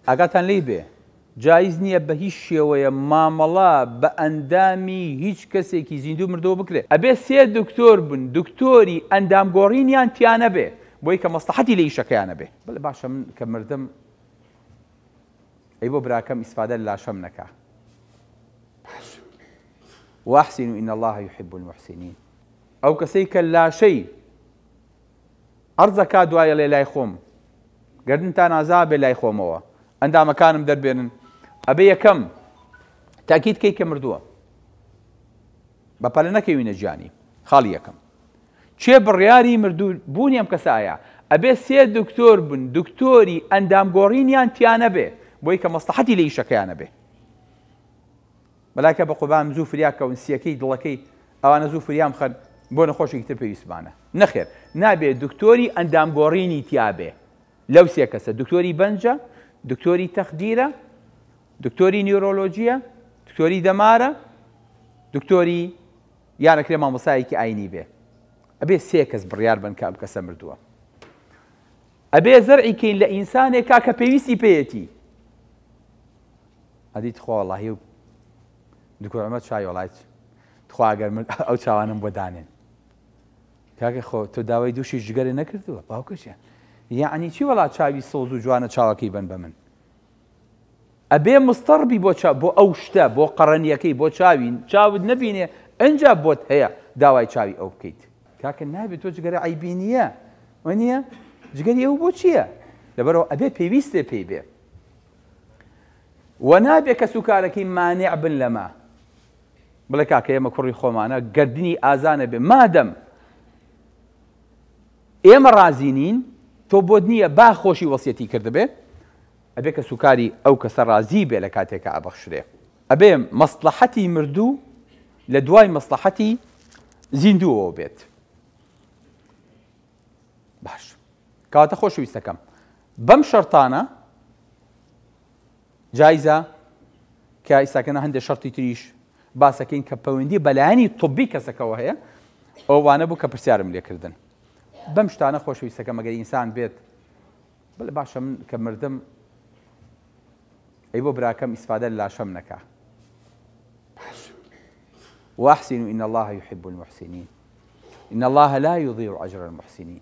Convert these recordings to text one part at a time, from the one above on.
ئاگاتان لێی بێ جایز نیە بە هیچ شێوەیە مامەڵە بە ئەندامی هیچ کەسێکی زیندوو مردوو بکرێ ئەبێ سێ دکتۆر بن دکتۆری ئەندام گۆڕینیان تیا نەبێ بۆی کە مەسڵەحەتی لە ئیشەکەیان نەبێ. بەلێ باشە من کە مردم ئەی بۆ براکەم ئیسفادە لە لاشەم نەکا باشە واحسنوا ان الله یحب المحسنین ئەو کەسەی کە لاشەی عەرزەکا دوایەڵێ لای خۆم گەردنتان ئازابێ لای خۆمەوە ئەندامەکانم دەربێنن ئەبێ یەکەم تاکیت کەی کە مردووە بە پەلە نەکەوینە جیانی خاڵی یەکەم چێ بڕیاری مردوو بوونی ئەم کەسایە ئەبێ سێ دکتۆر بن دکتۆری ئەندام گۆڕینیان تیانە بێ بۆی کە مەسلحەتی لە ئیشەکەیانە بێ مەلایکە بە قوبام زوو فریا کەون سیەکەی دڵەکەی ئەوانە زوو فریام خەن بۆ نەخۆشێکی تر پێویستمانە نەخێر نابێ دکتۆری ئەندام گۆڕینی تیابێ لەو سێ کەسە دکتۆری بەنجە دکتۆری تەخدیرە دکتۆری نیورۆلۆجیە دکتۆری دەمارە دکتۆری یانەکرێ مامۆسایەکی ئاینی بێ ئەبێ سێ کەس بڕیار بن کە ئەم کەسە مردووە ئەبێ زەرعی کەین لە ئینسانێکا کە پێویستی پێیەتی ئەدی تخوا وەڵاهی و دکتۆر عمر چای وەڵایت تخوا گەر من ئەو چاوانم بۆ دانێن کاکە خۆ تۆ داوای دووشی ژگەرە نەکردووە باوکەشە یعنی چی وڵات چاوی سۆز و جوانە چاوەکەی بن بە من ئەبێ مستەڕ بی بۆ چاو بۆ ئەو شتە بۆ قەڕەنیەکەی بۆ چاوی چاوت نەبینێ ئەنجا بۆت هەیە داوای چاوی ئەو بکەیت کاکە نابێت تۆ جگەرە عەیبی نییە وەنیە جگەری ئەو بۆ چییە لەبەرەوە ئەبێ پێویستێ پێی بێ و نابێ کە سوکارەکەی مانع بن لەمە بڵێ کاکە ئێمە کوڕی خۆمانە گردنی ئازانە بێ مادەم ئێمە ڕازی نین تۆ بۆت نییە با خۆشی وەسیەتی کردبێ ئەبێ کەس و کاری ئەو کەسە ڕازی بێ لە کاتێکا ئەبەخشرێ ئەبێ مەسڵەحەتی مردوو لە دوای مەسڵەحەتی زیندووەوە بێت باش کەواتە خۆشویستەکەم بەم شەرتانە جایزە، کە ئیستاکەنا هەندێ شەرتی تریش باسەکەین کە پەوەندی بەلایەنی طبی کەسەکەوە هەیە ئەو وانە بوو کە پرسیارم لێکردن بەم شتانە خۆشویستەکە مەگەر ئینسان بێت بڵێ باشە من کە مردم ئەی بۆ براکەم ئیسفادە لاشەم نەکە واحسن إن الله يحب المحسنين إن الله لا يضيع أجر المحسنين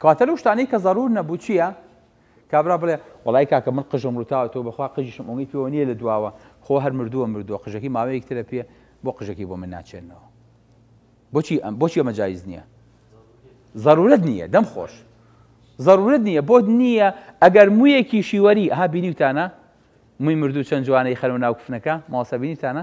کەواتە لەو شتانەی کە زەرور نەبوو چییە؟ کابرا بڵێ وڵی کاکە من قژم روتاوە تۆ بەخوا قژیشم ئۆنگی پێوە نییە لە دواوە خۆ هەر مردووە مردووە قژەکی ماوەیەک ترە پێ بۆ قژەکی بۆ من ناچێنەوە بۆچی ئەم بۆچی ئەمە جایز نییە ضرورت نییە دەم خۆش ضرورت نییە بۆت نییە ئەگەر مویەکی شیوەری ها بینیوتانە موی مردوو چەند جوانەی خەرو ناو کفنەکە ماوەسە بینیتانە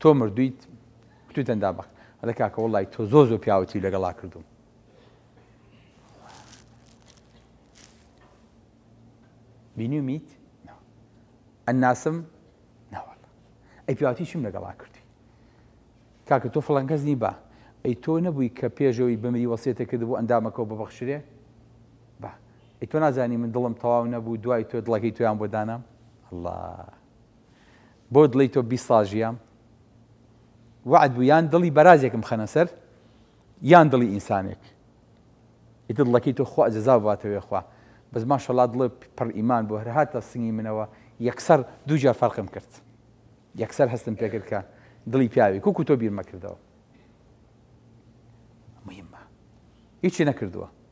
تۆ مردویت کتو دەندا بەق ئەڵێ کاکە وڵی تۆ زۆ زۆ پیاوەتی لەگەڵا کردوم بینی میت ئەناسم ناوەڵ ئەی پیاوەتی چیم لەگەڵا کردی کاکە تۆ فڵەنکەس نی بە ئەی تۆ نەبووی کە پێشەوەی بمری وەسێتە کرد بۆ ئەندامەکەەوە ببەخشرێ با ئەی تۆ نازانی من دڵم تەواو نەبوو دوای تۆ دڵەکەی تۆیان بۆ دانام الله بۆ دڵی تۆ بیست ساڵ ژیام وەعد بوو یان دڵی بەرازێکم خەنە سەر یان دڵی ئینسانێک ئیتر دڵەکەی تۆ خوا جەزا باتەوێ خوا بەس ماشەڵا دڵێ پڕ ئیمان بۆ هەرهاتە سنگی منەوە یەکسەر دووجار فەرقم کرد یەکسەر هەستم پێکرد کە دڵی پیاوی کوکو تۆ بیرمەکردەوە مهمە هیچی نەکردووە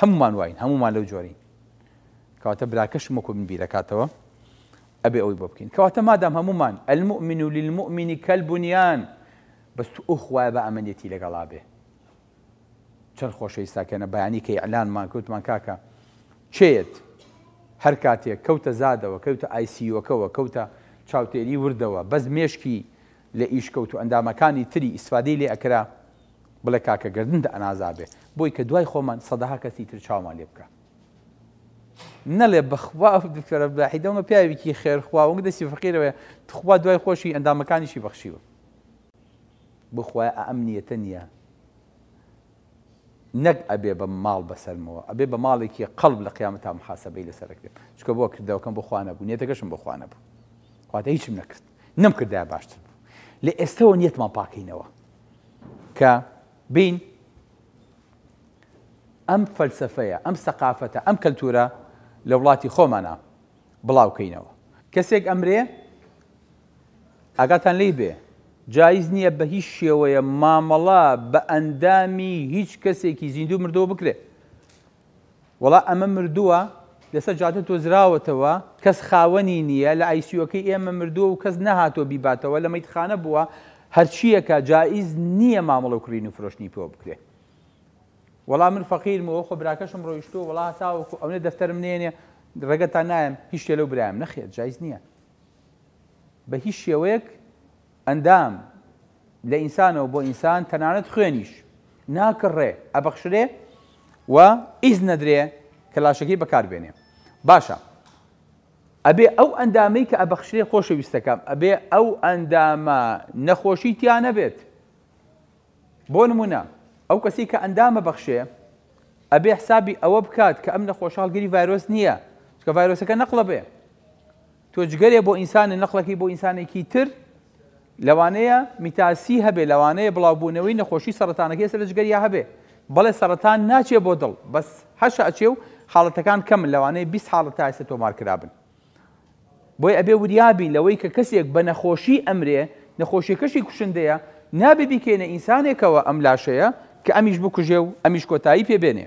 هەمومان واین هەمومان لەو جۆرین کەواتە براکەشم وەکو من بیرەکاتەوە ئەبێ ئەوی بۆ بکەین کەواتە مادام هەمومان المؤمن و للمؤمنی کەلبنیان بەس تو ئەو خوایە بە ئەمەنیەتی لەگەڵا بێ چەند خۆشەویستاکەنە بەیانی کە ئیعلانمان کەوتمان کاکە چێت هەر کاتێک کەوتە زادەوە کەوتە ئایسیوەکەەوە کەوتە چاوتێری وردەوە بەس مێشکی لە ئیش کەوتو ئەندامەکانی تری ئیستفادەی لێ ئەکرا بڵێ کاکە گەردنت ئەنازابێ بۆی کە دوای خۆمان سەدەها کەسی تر چاومان لێ بکا نەڵێ بەخوا دکتۆرە بلاحی دەمە پیاوێکی خێر خوا وەک دەسی فەقیرەوەە تخوا دوای خۆشی ئەندامەکانیشی بەخشیوە بخوای ئەم نیەتە نییە نەک ئەبێ بە ماڵ بەسەرمەوە ئەبێ بە ماڵێکی قەڵب لە قیامە تا محاسبەی لەسەرکرێت چکە بۆ کردەوەکەم بۆ خوانە بوو نێتەکەشم بۆ خوانە بوو خواتە هیچم نەکرد نەمکردایە باشتر بوو لە ئێستەوە نیەتمان پاکەینەوە کە بین ئەم فەلسفەیە ئەم سەقافەتە ئەم کەلتورە لە وڵاتی خۆمانە بڵاوکەینەوە کەسێک ئەمرێ ئاگاتان لی بێ جایز نییە بە هیچ شێوەیە مامەڵە بە ئەندامی هیچ کەسێکی زیندوو مردەوە بکرێت وەڵا ئەمە مردووە لەسەر جادە دۆزراوەتەوە کەس خاوەنی نییە لە ئایسیۆکەی ئێمە مردووە و کەس نەهاتووە بیباتەوە لە مەیتخانە بووە هەرچییەکە جائیز نییە مامەڵە و کڕین و فرۆشتنی پێوە بکرێ وەڵا من فەقیرم وەخۆ براکەشم ڕۆیشتووە وەڵا تاوەکو ئەونە دەفتەرم نێنێ ڕێگەتان نایم هیچ شتێ لەو برایم نەخێر جایز نییە بە هیچ شێوەیەک ئەندام، لە ئینسانەوە بۆ ئینسان، تەنانەت خوێنیش، ناکڕرێ، ئەبەخشرێ و ئیزن ئەدرێ کە لاشەکەی بەکار بێنێ. باشە ئەبێ ئەو ئەندامەی کە ئەبەخشرێ خۆشەویستەکەم، ئەبێ ئەو ئەندامە نەخۆشی تیا نەبێت. بۆ نموونە ئەو کەسەی کە ئەندام ئەبەخشێ، ئەبێ حسابی ئەوە بکات کە ئەم نەخۆشە هەڵگری ڤایرۆس نییە، چونکە ڤایرۆسەکە نەقڵە بێ. تۆ جگەرێ بۆ ئینسانە نەقڵەکەی بۆ ئینسانێکی تر لەوانەیە میتاسی هەبێ لەوانەیە بڵاوبوونەوەی نەخۆشی سەرەتانەکەی سەر لە جگەریا هەبێ بەڵێ سەرەتان ناچێ بۆ دڵ بەس هەشە ئەچێ و حاڵەتەکان کەمن لەوانەیە بیست حاڵەت تا ئێستا تۆمار کرابن بۆی ئەبێ وریابین لەوەی کە کەسێک بە نەخۆشی ئەمرێ نەخۆشیەکەشی کوشندەیە نابێ بیکەینە ئینسانێکەوە ئەم لاشەیە کە ئەمیش بکوژێ و ئەمیش کۆتایی پێبێنێ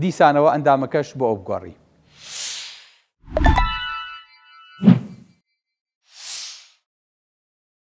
دیسانەوە ئەندامەکەشت بۆ ئەو بگۆڕی.